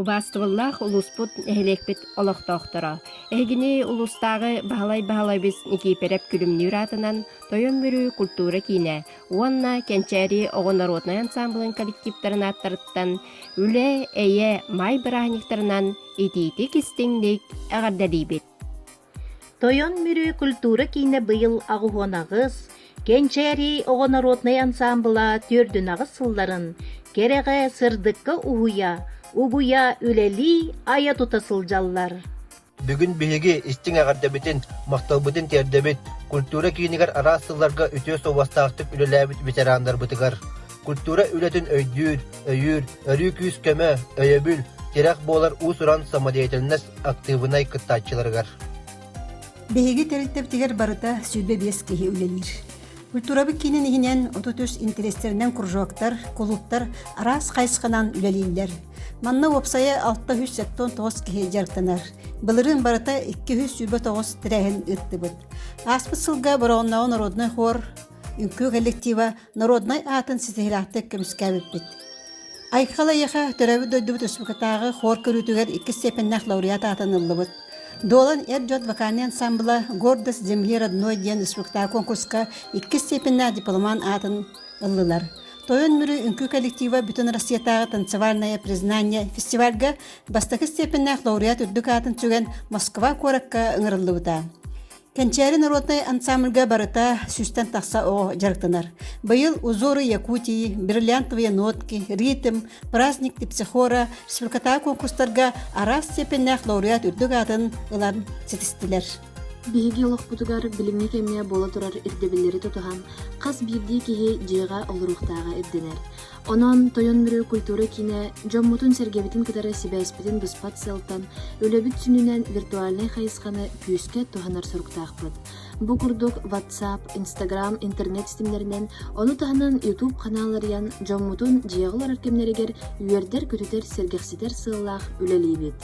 Убаастыбыллаах улууспут, нэһилиэкпит олохтоохторо! Эһигини улуустааҕы Баһылай Баһылайбыс Никиипирэп Күлүмнүүр аатынан Тойон-Бүрүү культура киинэ уонна Кэнчээри оҕо норуотунай ансаамбылын коллективтарын ааттарыттан Үлэ, эйэ, маай бырааһынньыктарынан итиитик-истиҥник эҕэрдэлиибит! Тойон Мүрү культура киинэ быйыл аҕыһын аҕыс, Кэнчээри оҕо народнай ансаамбыла төрдүнэҕис сылларын кэрэҕэ сырдыкка уһуйа, угуйа, үлэлии, айа-тута сылдьаллар. Бүгүн биһиги истиҥ эҕэрдэбитин, махталбытын тиэрдэбит культура киинигэр араас сылларга үтүө суобастаахтык үлэлээбит ветераннарбытыгар. культура үлэтин өйдүүр, өйүүр, өрүү күүс-көмө, өйөбүл, тирэх буолар уус-уран самодеятельность актыыбынай кыттааччыларыгар. Биһиги тэрилтэбитигэр барыта сүүрбэ биэс киһи үлэлиир. Культурабыт киинин иһинэн 33 интэриэстэринэн кружоктар, кулууптар араас хайысханан үлэлииллэр. Манна уопсайа 639 киһи дьарыктанар. Былырыын барыта 209 тэрээһин ыыттыбыт. Ааспыт сылга Бороҕоннооҕу народнай хор үҥкүү коллектива норуодунай аатын ситиһилээхтик көмүскээбиппит. Айхал айаха төрөөбүт дойдубут республикатааҕы хор көрүүтүгэр иккис степеннээх лауреат аатын ыллыбыт. Дуолан эр-дьон вокальный ансамбла «Гордость земли родной» диэн спектакль конкурска иккис степеннээх дипломан аатын ыллылар. Тойон Мүрү үҥкүү коллектива бүтүн Россиятааҕы танцевальное признание фестивальга бастакы степеннээх лауреат үрдүк аатын сүгэн Москва куоракка ыҥырыллыбыта. Кэнчээри норуотунай ансамбльга барыта сүүстэн тахса оҕо дьарыктанар. Быйыл «Узоры Якутии», «Бриллиантовые нотки», «Ритм», «Праздник Типсихора» швыркатаа конкурстарга араас степеннээх лауреат үрдүк аатын ылан ситистилэр. Биһиги олохпутугар билиҥҥи кэмҥэ буола турар ирдэбиллэри тутуһан хас биирдии киһи дьиэҕэ олоруохтааҕа ирдэнэр. Онон Тойон Мүрү культура киинэ дьоммутун-сэргэбитин кытары сибээспитин быспат сыалтан, үлэбит сүнүнэн виртуальнай хайысханы күүскэ туһанар соруктаахпыт. Бу курдук WhatsApp, Instagram, интернет ситимнэринэн, ону таһынан YouTube ханаалларыйан дьоммутун дьиэҕэ олорор кэмнэригэр үөрдэр-көтүтэр, сэргэхситэр сыаллаах үлэлиибит.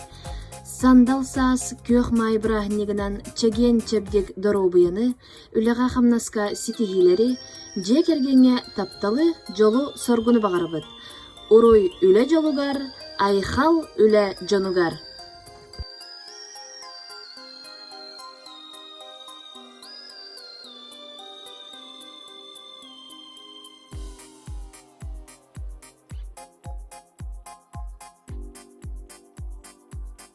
Сандал саас күөх маай бырааһынньыгынан чэгиэн чэбдик доруобуйаны, үлэҕэ-хамнаска ситиһиилэри, дьиэ кэргэҥҥэ тапталы, дьолу, соргуну баҕарабыт. Уруй үлэ дьолугар, айхал үлэ дьонугар!